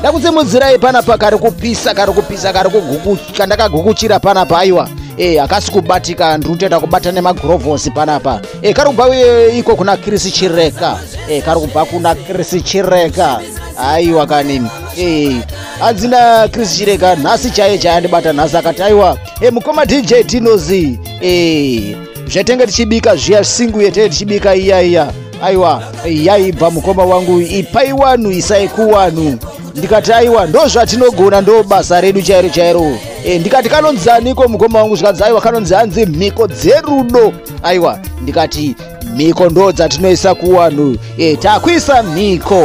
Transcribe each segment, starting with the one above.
ndakutsimudzirai panapa kari kupisa kari kupisa kari kandakagukuchira panapa aiwa e hakasi kubatika ndiri kutoita kubata nemagrovosi panapa e kari kubva eh, iko kuna krisi chireka e kari kubva kuna krisi chireka aiwa kani e hadzina krisi chireka nhasi chaiye chayandibata nhasi akati aiwa e mukoma dj tinozi e zvatenge tichibika zviya singu yetee tichibika iya iya aiwa yaibva mukoma wangu ipai wanhu isai kuwanhu ndikati aiwa ndozvatinogona ndo basa redu chairo chairo e, ndikati kanonzi aniko mukoma wangu zvikanzi aiwa kanonzi hanzi mhiko dzerudo aiwa ndikati mhiko ndo dzatinoisa kuwanhu e, takuisa mhiko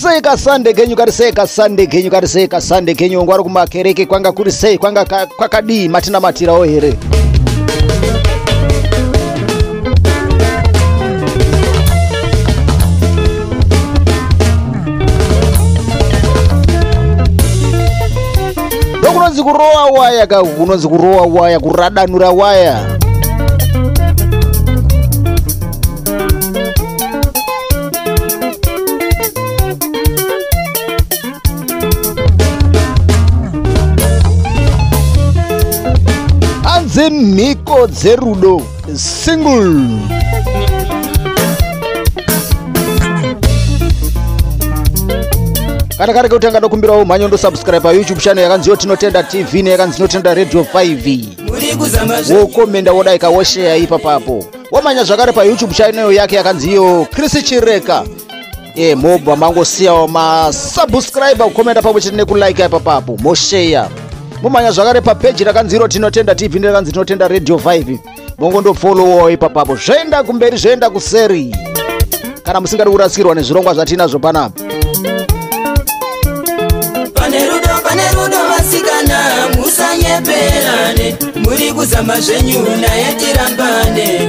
sei ka sunday kenyu kari sei ka sunday kenyu kari sei ka sunday kenyu wangu ari kumakereke kwanga kuri sei kwanga kwakadii matinamatirawo here ndokunonzi kurowa waya ka kunonzi kurowa waya kuradanura waya anzi mhiko dzerudo single kana kareke kutanga ndokumbirawo mhanyo ndosubscribe payoutube channel yakanziwo tinotenda tv neyakanzi tinotenda radio 5 wokomenda wodaika wosheya ipapapo wamanya zvakare payoutube channel yake yakanziyo chris chireka e mobva mangosiyawo masubscribe kukomenda pamwe chete nekulike ipapapo mosheya mumanya zvakare papeji rakanziro tinotenda tv nerakanzi tinotenda radio 5 mongondofolowawo ipapapo zvoenda kumberi zvoenda kuseri kana musingadi kurasikirwa nezvirongwa zvatinazvo panapa musanyepelane muri kuzama zvenyu naye tirambane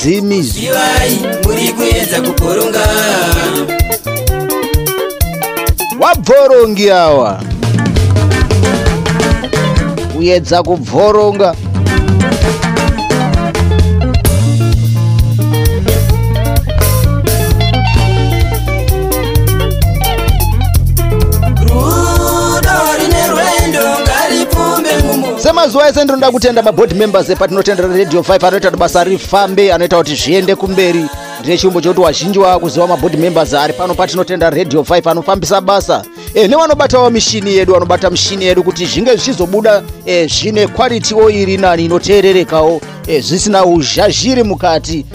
Zimi Zivai muri kuedza kuporonga Wabvorongi awa Kuedza kubvoronga semazuva ese ndinoda kutenda maboard members epatinotendera radio 5 anoita kuti basa rifambe anoita kuti zviende kumberi ndine chiumbo chokuti wazhinji wava kuziva maboard members ari pano patinotenda radio 5 anofambisa basa e, nevanobatawo mishini yedu vanobata mishini yedu kuti zvinge zvichizobuda e, zvine quality oiri nani inoteererekawo e, zvisina uzhazhiri mukati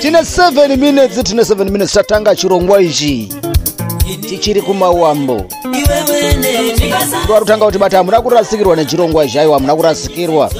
tine 7 minutes tine 7 minutes tatanga chirongwa ichi tichiri kumawambo ndo arikutanga kuti bati hamuna kurasikirwa nechirongwa ichi aiwa hamuna kurasikirwa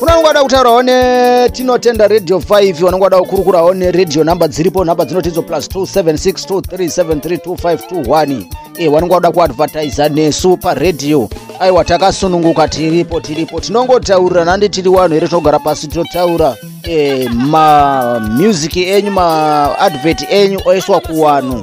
unenge wada kutaurawo netinotenda radio 5 wanenge wada kukurukurawo neradio number dziripo number dzinotidzo plus 2762373251 e eh, wanenge wada kuadvertisa nesu paradio aiwa takasununguka tiripo tiripo tinongotaurira nandi tiri wanhu here tinogara pasi tinotaura e eh, mamusic enyu maadvert enyu oiswa kuwanhu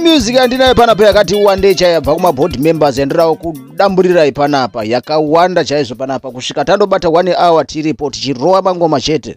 music yandinayo panapa yakati wande chaiyo yabva kumaboard members yandirawo kudamburirai panapa yakawanda chaizvo panapa kusvika tandobata one hour tiripo tichirowa mangoma chete